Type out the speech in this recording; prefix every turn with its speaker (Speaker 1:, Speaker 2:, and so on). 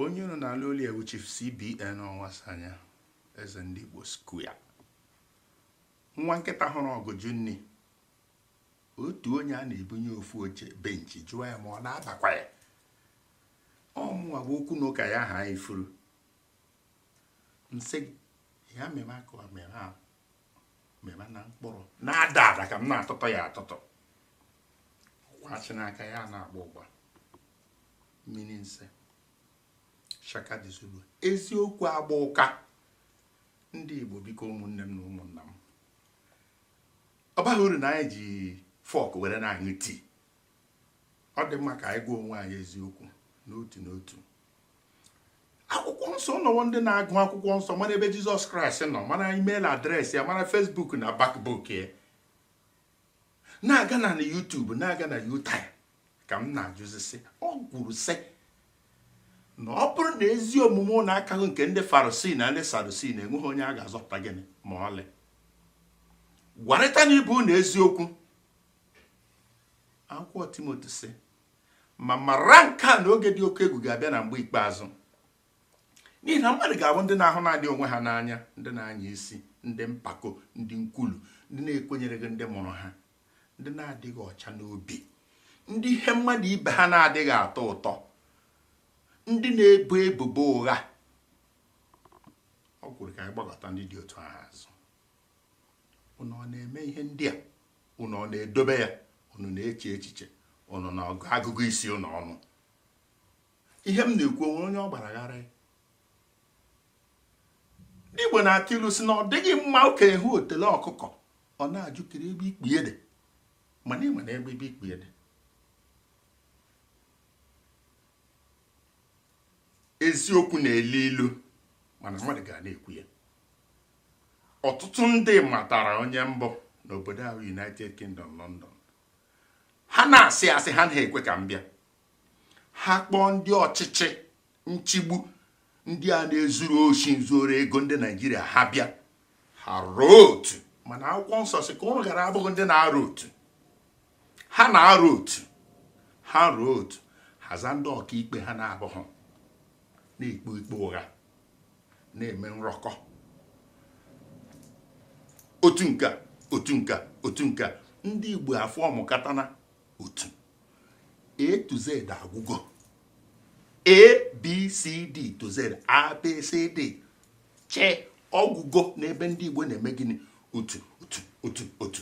Speaker 1: onye unu na-alụ olu ewu chief cbn ọnwasanya eze ndị igbo square nwa nkịta hụrụ ọgụ jụ nni otu onye a na-ebunye ofu oche benchi jụọ ya ma ọ na-abakwa ya ọ mụwa bụ okwu na ụka ya ha ifuru nsị ya mere aka mere ahụ meba na mkpụrụ na-ada ada ka m na-atụtụ ya atụtụ kwachị n'aka ya na-agba ụgba mmiri nse shaka the zulu eziokwu agba ụka ndị igbo biko ụmụnne m na ụmụnna m ọ baghị uru na anyị ji fọk were na-aṅụ tii ọ dị mma ka anyị gwa onwe anyị eziokwu n'otu n'otu akwụkwọ nsọ nọwo ndị na-agụ akwụkwọ nsọ mara ebe jizọs kraịst nọ mara email address ya mara facebook na backbook ya na-aga na youtube na-aga na yutai ka m na-ajụzisi o kwuru sị na ọ bụrụ na ezi omume unu akaghị nke ndị farisii na ndị sadusii na enweghị onye a ga-azọpụta gịnị ma ọlị gwarịtanụ ibe unu eziokwu akwụkwọ timoti sị ma mara nke a na oge dị oke egwu ga-abịa na mgbe ikpeazụ n'ihi na mmadụ ga-abụ ndị na-ahụ naanị onwe ha n'anya ndị na-anya isi ndị mpako ndị nkwulu ndị na-ekwenyereghị ndị mụrụ ha ndị na-adịghị ọcha n'obi ndị ihe mmadụ ibe ha na-adịghị atọ ụtọ ndị na-ebo ebubo ụgha o kwuru ka anyị gbakụta ndị dị otu ahụ azụ unu ọ na-eme ihe ndị a unu ọ na-edobe ya unu na-eche echiche unu na agụgụ isi unu ọ nụ ihe m na-ekwu o nwere onye ọ gbara gharị ndị Igbo na-atụ ilu sị na ọ dịghị mma okenye hụ otele ọkụkọ ọ na-ajụkiri ebe ikpu ya dị mana ị mana ebe ikpu ya dị eziokwu na-elu ilu mana mmadụ ga na-ekwu ya ọtụtụ ndị matara onye m bụ n'obodo ahụ united kingdom london ha na-asị asị ha anaghị ekwe ka m bịa ha kpọọ ndị ọchịchị nchigbu ndị a na-ezuru oshi nzuru ego ndị naịjirịa ha bịa ha rọọ otu mana akwụkwọ nsọ sị ka unu ghara abụghị ndị na-arọ otu ha na-arụ otu ha rụọ otu haza ndị ọkaikpe ha na-abụghị na-ekpe ikpe ụgha na-eme nrọkọ otu nke otu nke otu nke ndị Igbo afọ ọmụkatana otu A to Z agwụgo A B C D to Z A B C D che ọ gwụgo n'ebe ndị Igbo na-eme gịnị otu otu otu otu